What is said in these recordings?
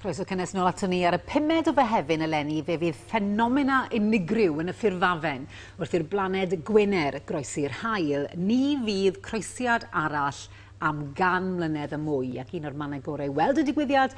Croeso cynnes nôl ato ni ar y pumed o Fehefin eleni fe fydd ffenomena unigryw yn y ffurfafen wrth i'r blaned Gwener groesi'r haul. Ni fydd croesiad arall am gan mlynedd a mwy ac un o'r mannau gorau i weld y digwyddiad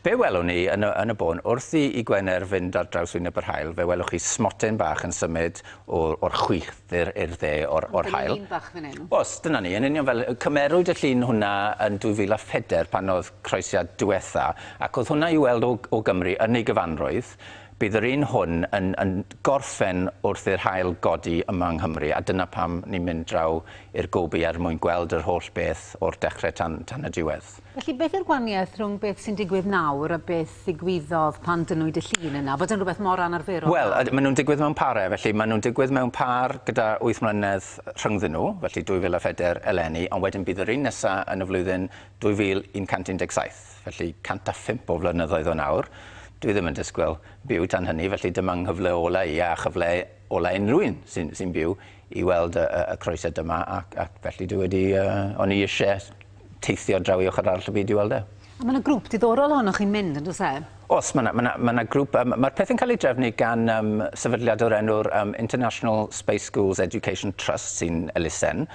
Fe welwn ni yn y yn y bôn, wrth i i Gwener fynd ar draws wyneb yr haul, fe welwch chi smoten bach yn symud o o'r chwith i'r i'r dde o'r o'r haul. Llun bach fan 'yn. O's, dyna ni, yn union fel, cymerwyd y llun hwnna yn 2004 pan o'dd croesiad diwetha, ac o'dd hwnna i'w weld o o Gymru yn ei gyfanrwydd, bydd yr un hwn yn yn gorffen wrth i'r haul godi yma yng Nghymru, a dyna pam ni'n mynd draw i'r goby er mwyn gweld yr holl beth o'r dechre tan tan y diwedd. Felly, beth yw'r gwahaniaeth rhwng beth sy'n digwydd nawr a beth ddigwyddodd pan dynnwyd y llun yna? Fod yn rhywbeth mor anarferol nawr? Wel, maen nhw'n digwydd mewn pare, felly maen nhw'n digwydd mewn pâr gyda wyth mlynedd rhyngddyn nhw, felly 2004 eleni, ond wedyn bydd yr un nesa yn y flwyddyn 2117, felly 105 o flynyddoedd o nawr. Dwi ddim yn disgwyl byw tan hynny, felly dyma 'nghyfle ola' i, a chyfle ola' unrhyw un sy'n sy'n byw, i weld y y y croeset yma, ac ac felly dwi wedi yy... o'n i isie teithio draw i ochr arall y byd i weld e. A mae yna grŵp diddorol ohonoch chi'n mynd, yn does e? Os, mae yna, mae yna, mae yna grŵp, um, mae'r pethau'n cael ei drefnu gan um, sefydliad o'r enw'r um, International Space Schools Education Trust sy'n elusen.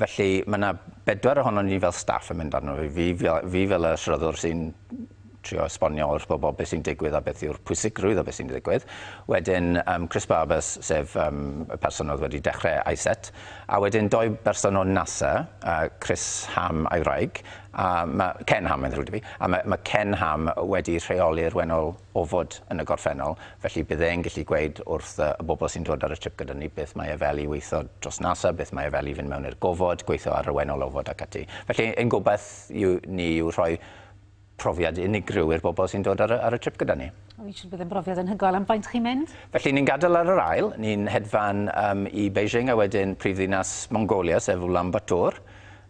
Felly mae yna bedwar ohono ni fel staff yn mynd arno fi, fi, fi fel y sroddwr sy'n trio esbonio wrth bobl beth sy'n digwydd a beth yw'r pwysigrwydd o beth sy'n digwydd. Wedyn um, Chris Barbers, sef um, y person oedd wedi dechrau ISET, a wedyn doi berson o NASA, uh, Chris Ham a'i wraig, a ma, Ken Ham yn ddrwyd i fi, a mae ma Ken Ham wedi rheoli'r wenol ofod yn y gorffennol, felly bydd e'n gallu gweud wrth uh, y bobl sy'n dod ar y trip gyda ni beth mae e fel i weithio dros NASA, beth mae e fel i fynd mewn i'r gofod, gweithio ar y wenol ofod ac ati. Felly, ein gobaith yw, ni yw rhoi profiad unigryw i'r bobl sy'n dod ar y, ar y trip gyda ni. O'n i'n siŵr bydd yn brofiad yn hygoel. Am faint chi'n mynd? Felly ni'n gadael ar yr ail, ni'n hedfan um, i Beijing a wedyn prif ddinas Mongolia, sef Ulan Bator,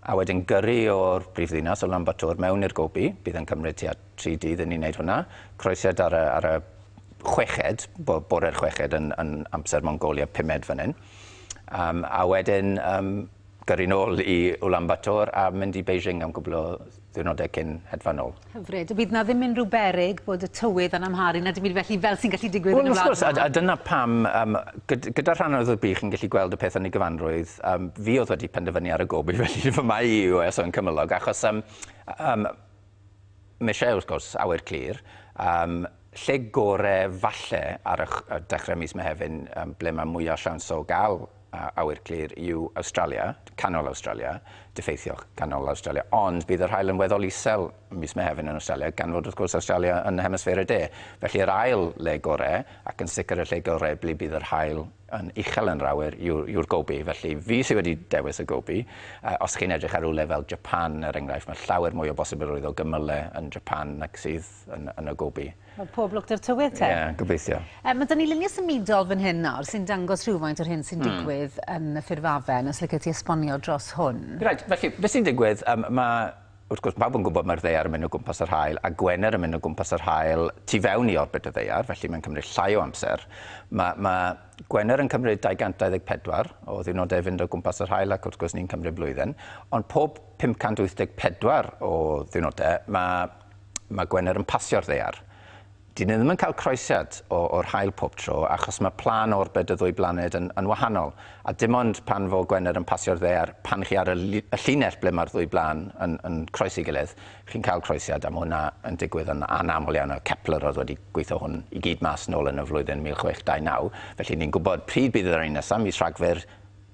a wedyn gyrru o'r prif ddinas o Ulan Bator mewn i'r Gobi, bydd yn cymryd tua tri dydd i ni wneud hwnna, croesiad ar y, ar y chweched, bore'r chweched yn, yn amser Mongolia, pumed fan hyn. Um, a wedyn um, Gyrru nôl i Ulaanbaatar a mynd i Beijing am gwbl o ddiwrnodau cyn hedfan nôl. Hyfryd. Fydd 'na ddim unrhyw berig bod y tywydd yn amharu na dim byd felly fel sy'n gallu digwydd yn y wlad yma? Wel wrth gwrs, a a dyna pam yym gyd- gyda'r rhan anodd o'r byd chi'n gallu gweld y peth yn ei gyfanrwydd, yym fi oedd wedi penderfynu ar y gob i fy hun fy mai i US yn cymylog achos yym yym Michelle, wrth gwrs, awyr clir. Yym, lle gore falle ar y ch- dechre mis Mehefin yym ble mae mwya siawns o gael awyr clir yw Awstralia, canol Awstralia, diffeithio canol Awstralia, ond bydd yr haul yn weddol isel mis Mehefin yn Awstralia gan fod wrth gwrs Awstralia yn Hemisffer y De. Felly yr ail le gore, ac yn sicr y lle gore ble bydd yr haul yn uchel yn llawer yw'r gobi, felly fi sydd wedi dewis y gobi. Os chi'n edrych ar rywle fel Japan, er enghraifft, mae llawer mwy o bosibilrwydd o gymylau yn Japan nag sydd yn, yn y gobi. Wel, pob lwc dy'r tywydd te. Ie, yeah, gobeithio. E, mae da ni luniau symudol fan hyn nawr sy'n dangos rhywfaint o'r hyn sy'n hmm. digwydd yn y ffurfafen, os lycet ti esbonio dros hwn. Right, felly, beth sy'n digwydd, um, mae Wrth gwrs, pawb yn gwybod mae'r Ddaear yn mynd o gwmpas yr Haul a Gwener yn mynd o gwmpas yr Haul tu fewn i orbit y Ddaear, felly mae'n cymryd llai o amser. Mae, mae Gwener yn cymryd 224 o ddiwrnodau i fynd o gwmpas yr Haul ac wrth gwrs ni'n cymryd blwyddyn, ond pob 584 o ddiwrnodau mae, mae Gwener yn pasio'r Ddaear. Dyn ni ddim yn cael croesiad o, o'r haul pob tro, achos mae plân orbed y ddwy blaned yn, yn wahanol, a dim ond pan fo Gwener yn pasio'r ddaear, pan chi ar y, y llinell ble mae'r ddwy blân yn, yn croesi gilydd, chi'n cael croesiad, a mae hwnna yn digwydd yn anaml iawn, a Kepler oedd wedi gweithio hwn i gyd mas nôl yn y flwyddyn 1629, felly ni'n gwybod pryd bydd yr un nesaf, mis Rhagfyr,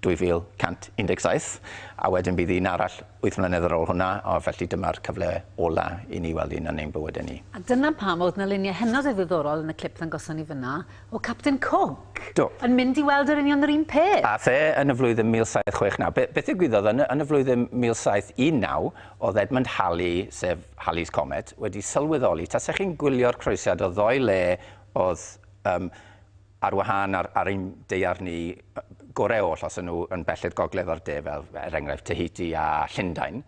2117, a wedyn bydd un arall wyth mlynedd ar ôl hwnna, a felly dyma'r cyfle ola i ni weld un yn ein bywydau ni. A dyna pam oedd 'na luniau hynod o ddiddorol yn y clip ddangoson ni fan'na o Capten Cook... Do. ...yn mynd i weld yr union yr un peth. Ath e yn y flwyddyn 1769. Be- beth ddigwyddodd yn y yn y flwyddyn 1719 oedd Edmund Halley, sef Halley's Comet, wedi sylweddoli, tase chi'n gwylio'r croesiad o ddoe le oedd yym ar wahân ar, ar ein deiar ni gorau oll, os y'n nhw yn bell i'r gogledd o'r de, fel er enghraifft Tahiti a Llundain,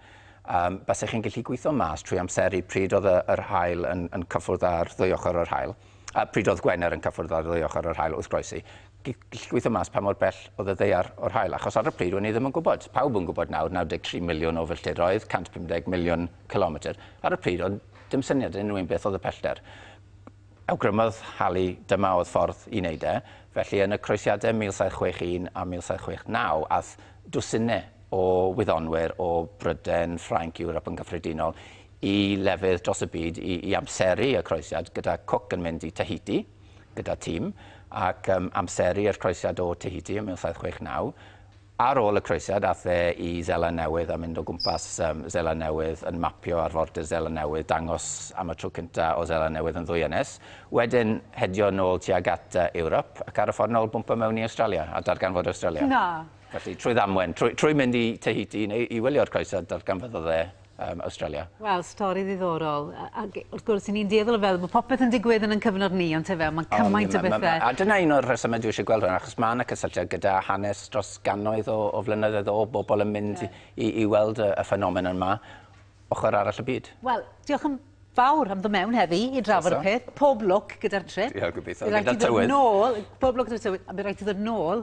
um, basech chi'n gallu gweithio mas trwy amseru pryd oedd yr hael yn, yn cyffwrdd ar ddwy ochr o'r hael, a pryd oedd Gwener yn cyffwrdd ar ddwy ochr o'r hael wrth groesi, gallu gweithio mas pa mor bell oedd y ddeiar o'r hael, achos ar y pryd o'n i ddim yn gwybod. Pawb yn gwybod nawr, 93 miliwn o filltiroedd, 150 miliwn kilometr. Ar y pryd oedd dim syniad yn unrhyw un beth oedd y pellter. Awgrymodd Halley dyma oedd ffordd i wneud e, felly yn y Croesiadau 1761 a 1769 aeth dwsinau o wyddonwyr o Brydain, Ffrainc, Ewrop yn gyffredinol i lefydd dros y byd i i amseru y Croesiad, gyda Cook yn mynd i Tahiti gyda tîm ac yym amseru yr Croesiad o Tahiti yn 1769. Ar ôl y croesiad, aeth e i Seland Newydd a mynd o gwmpas Seland Newydd yn mapio arfordir Seland Newydd, dangos am y tro cyntaf o Seland Newydd yn ddwy ynys. Wedyn, hedio nôl tuag at Ewrop, ac ar y ffordd nôl bwmpo mewn i Awstralia, a darganfod Awstralia. Na! Felly, trwy ddamwen, trwy mynd i Tahiti i wylio'r croesad, darganfyddodd e um, Australia. Wel, stori ddiddorol. Ac wrth gwrs, i ni'n dueddol o feddwl bod popeth yn digwydd yn yn cyfnod ni, ond tefe, mae cymaint o bethau. A dyna un o'r rhesymau dwi eisiau gweld hwn, achos mae yna cysylltiad gyda hanes dros gannoedd o, o flynyddoedd o bobl yn mynd yeah. i, i weld y, y ffenomen yma, ochr arall y byd. Wel, diolch yn fawr am ddod mewn heddi i drafod y peth. Pob lwc gyda'r trip. Diolch, gobeithio. Gyda'r tywydd. Nôl, pob lwc gyda'r tywydd. A bydd rhaid i ddod nôl